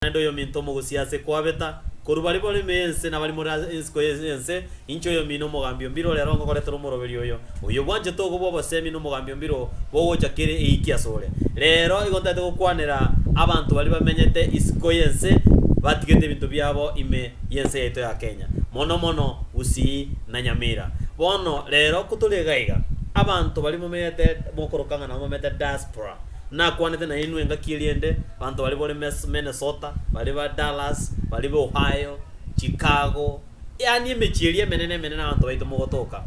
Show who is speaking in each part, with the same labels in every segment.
Speaker 1: Naende oyominto omogosi ase koabeta, korwa baria baremeye ense na baria more ensiko y'ense, inche oyomino omogambi o mbiro ore aro ngokoretera omoroberio oyo, oyobwanchete ogo bw'obosemi na omogambi o mbiro bw'ogocha kere eiki asore. Rero igo ntaete gokwanera abanto baria bamenyete isiko y'ense batigete ebinto biabo ime y'ense yaito ya Kenya, mono mono Gusii na Nyamira. Bono rero ko tore iga iga, abanto baria momenyete mokoroka ng'a nabo bamete diaspora, Nakwanete nainwe engaki eriende, banto baria bore Mes- Minnesota, baria ba Dallas, baria ba Ohio, Chicago, yaani emechie eria emenene emenene abanto baito mogotoka.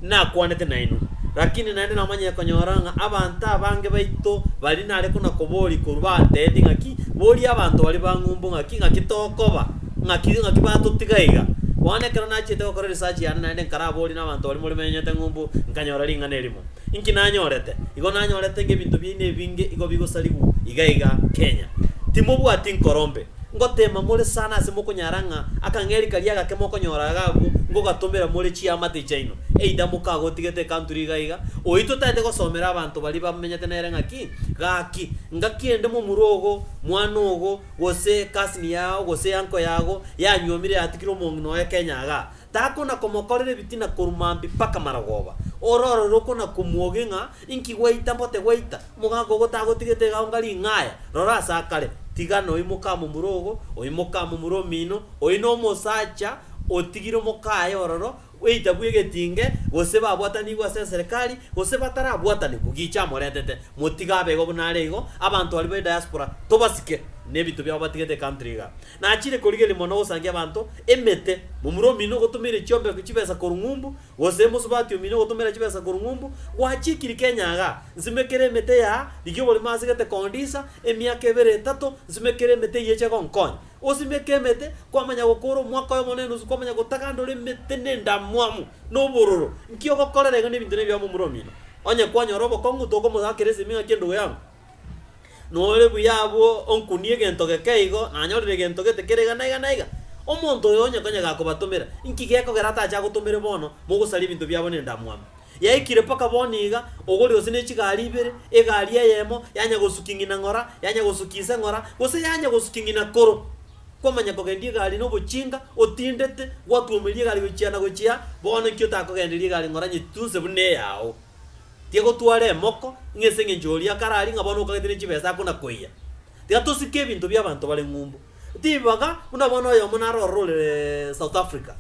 Speaker 1: Nakwanete nainwe. Lakini naende namanyire konyora ng'a abanto abange baito baria nare konakoboria korwa bateebia ng'a ki, boria abanto baria bang'umbu ng'a ki, ng'aki tokoba, ng'aki ng'aki batotiga iga. Bono ekero nachiete gokora research yane naende nkaraborie na abanto baria more bamenyete ng'umbu, nkanyora ring'ana erimo. Inki nanyorete? Igo nanyorete ngebinto biaino ebinge igo bigosarigwa iga iga Kenya. Timobwati nkorombe. Ngoteema more sana ase mokonyara ng'a akang'eri karia agake mokonyora iga abwo ngogatomera more chiamate chiaino. Either mokagotigete ecountry iga iga, oitwe taete gosomera abanto baria bamenyete nere ng'aki, gaki, ngaki ende momura ogo, mwana ogo, gose cousin yao, gose uncle yago, yanywomire yatigire omong'ina oye Kenya igaa. takona-komokorera ebitina korwa mambia mpaka marogoba. Ororore okona-komwogia ng'a inki gwaita mbote gwaita, omogaka ogo tagotigete egaunga ring'aya. Rora ase akare, tiga noimoke amo mura ogo, oimoke amo mura omino, oyio nomosacha otigire omoka aye ororo, gweita bw'egetinge, gose babwatanigwe ase eserekari, gose batarabwatanigwe, gicha amoretete. Motige abe igo buna are igo, abanto baria ba ediaspora tobasike, nebinto biabo batigete ecountry iga. Nachire korigereria mono gosangia abanto emete, momura omino gotomeire chiombeko chibesa korwa ng'umbu, gose mosubati omino gotomeira chibesa korwa ng'umbu, gwachikiri Kenya igaa, nsimekere emete yaa, rigia oborimo ase gete kondisa, emiaka ebere etato, nsimekere emete eyio eche egonkonya. Gosimeka emete, kwamanya gokora omwaka oyomo na enusu, kwamanya gotagandora emete na endamwamu, na obororo, nki ogokorera iga na ebinto na ebiamo momura omino. Onye kwanyora obokong'u, tokomosakeresia ime ng'aki endugu yango. Nore buya abwo onkunie egento geke igo, nanyorire egento gete kere iga na iga na iga. Omonto oyo onye konya gakobatomera, inki gekogera atache agotomere bono, mogosaria ebinto biabo nendamwamu? Yaikire mpaka bono iga, ogore gose ne chigari ibere, egari eyemo, yanya gosukia ng'ina ng'ora, yanya gosukia ise ng'ora, gose yanya gosukia ng'ina koro. Kwamanya kogendia egari nobochinga, otindete, gwatuomeria egari gochia na gochia, bono inki otakogenderia egari ng'ora nyetitunse buna eyao? Tigagotwara emoko, ng'a ase engencho oria kararie ng'a bono okagete ne chibesa akonakoiya. Tigatosike ebinto bi'abanto bare ng'umbu. Tibibaga buna bono oyomo naro ororire South Africa,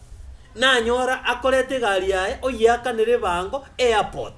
Speaker 1: nanyora akorete egari yaye oyeakanera ebango airport,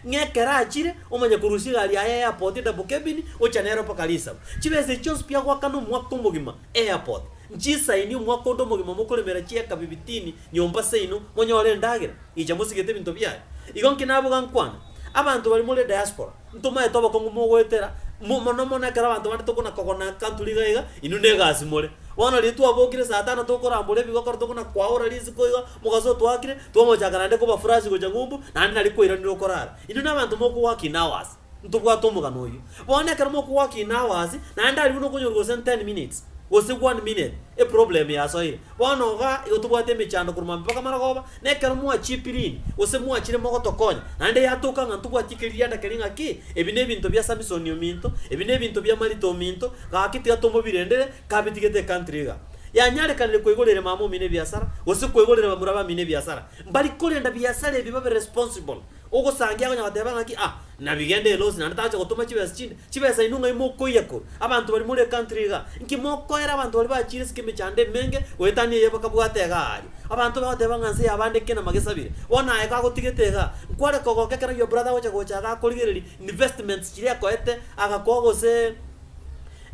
Speaker 1: ng'a ekero achire omanye korusia egari yaye airport double cabin ocha nero mpaka Lisabo. Chibesa echi chionsi biagoakana omwaka omogima airport, nchisaini omwaka onde omogima mokoremera chieka bibitini Nyomba seino monyore endagera, inche mosigete ebinto biaye. Igo nki naboga nkwane? Abanto baria more diaspora, ntomaete obokong'u mogoetera, mo mono mono ekero abanto bande tokona kogona country iga iga, inwe negasi more. Bono riria twabokire saa tano tokorambora ebigokora tokona kwaora risiko iga, omogaso otwakire, twamochaka naende koba furashi gocha ng'umbu, naende nari koiranera okorara. Inwe nabanto mokowakin hours. Ntobwate omogano oyio. Bono ekero mokogoka in hours, naende aria buna okonyorwa gose in ten minutes, gose one minute, eproblem yasoire. Bono iga igo tobwate emechando korwa maambia mpaka marogoba, na ekero mwachipirini, gose mwachire mogotokonya, naende yatoka ng'a ntobwati eke rigiada keria ng'a ki, ebi nebinto bia Samisoni ominto, ebi nebinto bia Marita ominto, gaki tiga tomobirendere, kabitigete ecountry iga. Yanyarekanire koigorera emama omino ebiasara, gose koigorera bamura bamino ebiasara. Mbari korenda biasara ebi babe responsible. Ogosangia akonya goteba ng'aki, Ah, nabi genda elosi, naende tagocha gotoma chibesa chinde. Chibesa inwe ng'ai mokoiya koro? Abanto baria more ecountry iga, inki mokoera abanto baria bachire ase emechando emenge goetania eyio bakabwata iga aaria? Abanto bagoteba ng'a nse y'abande ekina magesabire. Bono aye kagotigete iga, nkware kogoka ekero your brother agocha gocha iga akorigererie investments chiria ekoete, agakoa gose,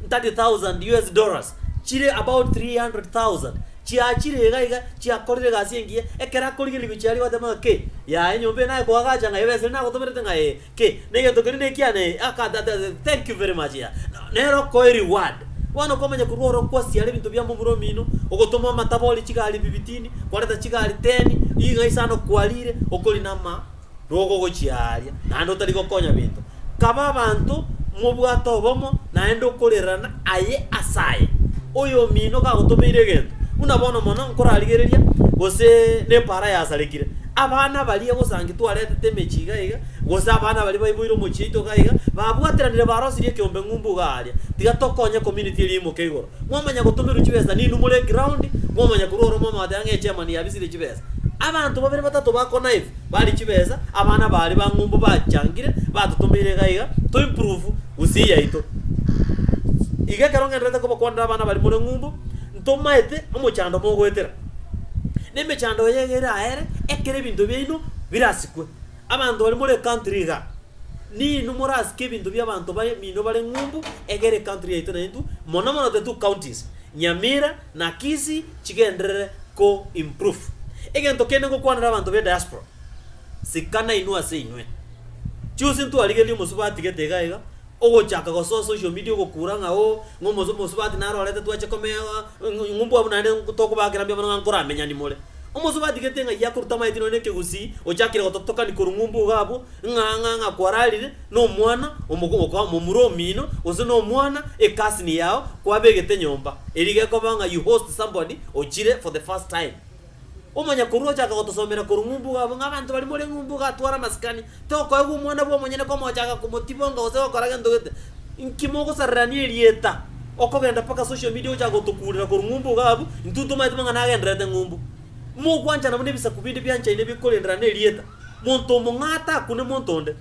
Speaker 1: 30,000 US dollars, chire about 300,000, chiachire iga iga, chiakorire egasi engiya, ekero akorigerigwe chiaria gwateba ng'a ki, yaya enyomba eye naye koagacha ng'a ebesa eria nagotomerete ng'a ee, ki, na egento keria na ekiana ee, aka ta ta thank you very much yaya. Na nere okoe reward. Bono okomanya korwa oro kwasiara ebinto bia momura omino, ogotoma amataba ore chigari bibitini, kwareta chigari teni, ring'ai sana okwarire, okori na ama. rogogochia aaria, naende otari gokonya bento. Kaba abanto mobwate obomo, naende okorerana aye ase aye. Oyomino gagotomeire egento, buna bono mono nkorarigereria, gose nepaara yasarekire, abana baria gose anki twaretete emechie iga iga, gose abana baria baiboire omochie oito iga iga, babwateranire barosirie ekeombe ng'umbu iga aaria, tiga tokonye community eria imoke igoro. Mwamanya gotomerwa chibesa ninwe more eground, mwamanya korwa ororo mwamanya goteeba ng'a echemani yabisire chibesa. Abanto babere batato ba Konive baria chibesa, abana baria ba ng'umbu bachangire, batotomeire iga iga, to improve gusii yaito. Iga ekero ng'enderete kobakwanera abana baria more ng'umbu, ntomaete omochando mogoetera. Na emechando eye iga ere aye ere, ekero ebinto biaino birasikwe. Abanto baria more country iga, ninwe morasike ebinto bia abanto bamino bare ng'umbu, egere country yaito naintwe, mono mono the two counties, Nyamira. Na Kisi chigenderere ko improve. Egento kende ngokwanera abanto be diaspora, sika nainwe ase inwe. Chionsi ntwarigerie omosubati gete iga iga, ogochaka gosoa social media ogokura ng'a oo, ng'a omosu omosubati naro orete twache komea ng'a ng'a ng'a mbwabwo naende tokobakera mbia mono ng'a nkoramenyani more. Omosubati gete ng'ai akorutamaeti nonye na ekegusii, ochakire gototokani korwa ng'a ombwa iga abwo, ng'a ng'a ng'a kwararire. nomwana omogoka omomura omino, gose nomwana e cousin yao kwabegete nyomba, erio gekoba ng'a you host somebody ochire for the first time. Omonyakorwa ochaka gotosomera korwa ng'umbuga abwo ng'a abanto baria more ng'umbuga atware amasikani, tokoegwa omwana bw'omonyene komochaka komotibonga gose gokora gento gete. Inki mogosarerania erieta? Okogenda mpaka social media ogochaka gotokurera korwa ng'umbuga abwo, intwe tomanyete mang'ana agendererete ng'umbu. Mogwanchana buna ebisaku binde bianchaine bikorendera na erieta. Monto omong'aa takune monto onde.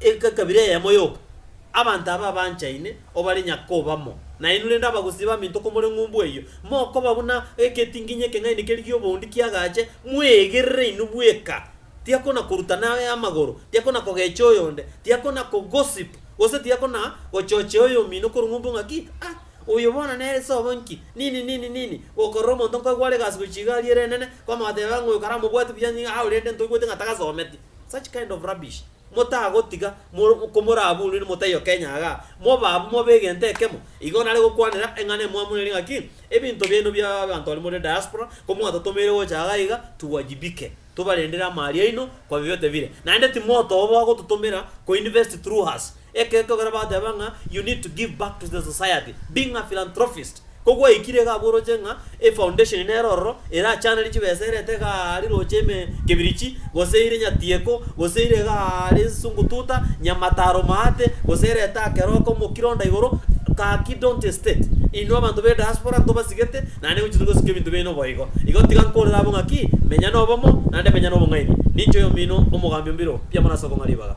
Speaker 1: Ekabira eyemo yoka, abanto aba abanchaine, o bare nyakoba mo nainwe, rende abagusii baminto komore ng'umbu eyio, mokoba buna egetinginyi ekeng'aini keria gi'oboundi kiagache, mweegerere inwe bweka. Tiakonakorutana aye amagoro, tiakonakogecha oyonde, tiakonakogossip, gose tiakonagochochea oyomino korwa ng'umbu ng'aki, Ah, oyo bono nere sobo nki? nini, nini, nini, gokorora omonto nkoigwa are egasi gochia iga aria ereng'ene, kwamotebera ng'a oyo karamobwati buya nigo aao rende ntoigwete ng'a tagasometi. Such kind of rubbish motagotiga mo komoraburire motaiyo Kenya iga, mobe abwo mobe egento ekemo, igo nare gokwanera eng'ana emwamoneire ng'aki, ebinto biaino bia abanto baria more diaspora komwatotomeire gocha iga iga tuwajibike, tobarendere amaari aino kwa vyovyote vile, naende timotoba bagototomera ko invest through us. Ekero togera bateba ng'a you need to give back to the society, being a philanthropist, ko gwaikire iga abwo oroche ng'a e foundation nero ororo erachanere chibesa erete iga aria roche ime kibirichi, gose ire nyatieko, gose ire iga aria ensungu tuta, nyamata aromaate, gose erete akeroko omokiro onda igoro, gaki don't hesitate, inwe abanto be diaspora ntobasigete, naende ingochete gosika ebinto biaino boigo. Igo tiga nkorere abwo ng'aki, menya nobomo, naende menya nobong'aini. Ninche oyomino omogambi o mbiro mpiamano ase okong'a ribaga.